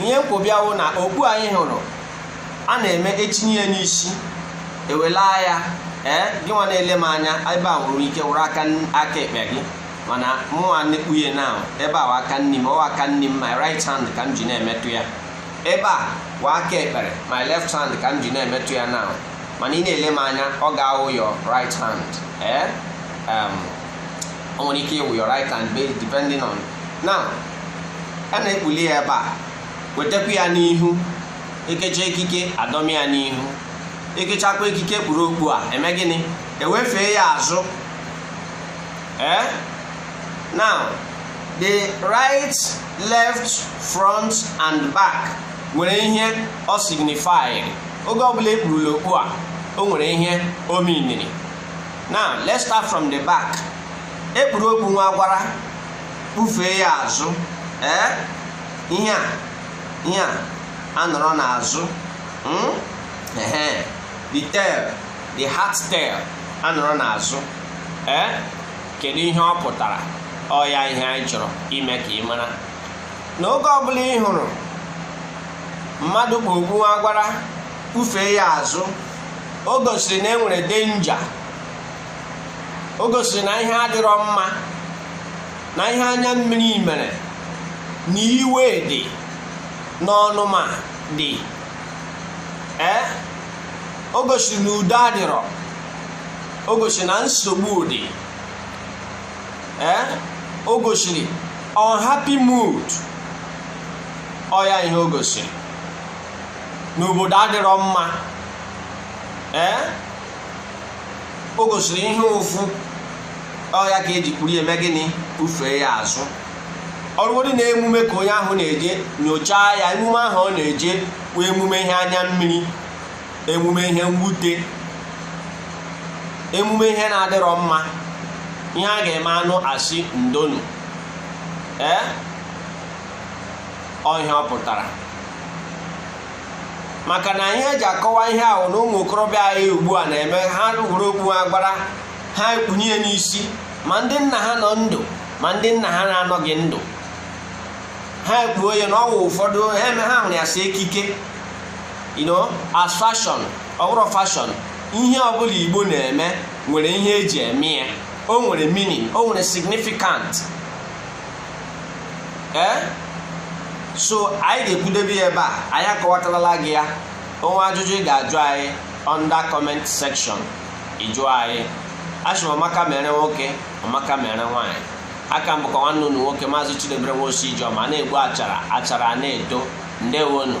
ihe m kpọbịa wụ na okpu anyị hụrụ a na-eme etinye ya n'isi ewelaa ya ee gị nwa na-ele m anya ebe a nwere ike wụrụ aka aka ekpe gị mana mụnwa na-ekpunye na ebe a wụ aka nni m ọ wụ aka nni m my right hand ka m ji na-emetụ ya ebe a wụ aka ekpe m my left hand ka m ji na-emetụ ya na mana ị na-ele m anya ọ ga-awụ your right hand ee o nwere ike ịwụ your right hand depending on now a na-ekpuli ya ebe a wetakwa ya n'ihu ekecha ekike adọmi ya n'ihu ekechakwa ekike kpuru okpu a eme gịnị ewefee ya azụ eh now the right left front and back nwere ihe ọ signify oge ọbụla ekpurula okpu a o nwere ihe o miniri now let's start from the back ekpuru okpu nwagwara kpufee ya azụ ee ihe a ihe a anọrọ n'azụ hmm? the tail the hat tail anọrọ n'azụ ee kedu ihe ọ pụtara ọ ya ihe anyị chọrọ ime ka ị mara na oge ọbụla ị hụrụ mmadụ kpu okpu nwagwara kpufee ya azụ o gosiri na enwere danger o gosiri na ihe adịrọ mma na ihe anya mmiri mere na iwe dị n'ọnụma dị ee o gosiri na udo adịrọ o gosiri na nsogbu dị ee o gosiri unhappy mood ọ ya ihe o gosiri n'obodo adịrọ mma ee o gosiri ihe ụfụ ọ ya ka eji kpuru eme gịnị kpufee ya azụ ọrụgodị na emume ka onye ahụ na-eje nyochaa ya emume ahụ ọ na-eje wụ emume ihe anya mmiri emume ihe mwute emume ihe na-adịrọ mma ihe a ga-eme anụ asị ndo nụ ee ọ ihe ọ pụtara maka na ihe eji akọwa ihe ahụ na ụmụ okorobịa anyị ugbu a na-eme ha were okpu nwagwara ha ekpunye ya n'isi ma ndị nna ha nọ ndụ ma ndị nna ha na-anọghị ndụ ha ekpuo ya na ọ wụ ụfọdụ ha eme ha hụrụ ya as ekike you know as fashion ọ wụrọ fashion ihe ọbụla igbo na-eme nwere ihe eji eme ya o nwere meaning o nwere significant ee so anyị ga-ekwudebe ya ebe a anyị akọwatarala gị ya o nwee ajụjụ ị ga-ajụ anyị under comment section ị jụọ anyị asị m ọmaka mere nwoke ọmaka mere nwaanyị aka m bụkwa nwanne unu nwoke maazị Chidebere Nwosu Ijeọma na-egbu achara achara na-eto ndewonu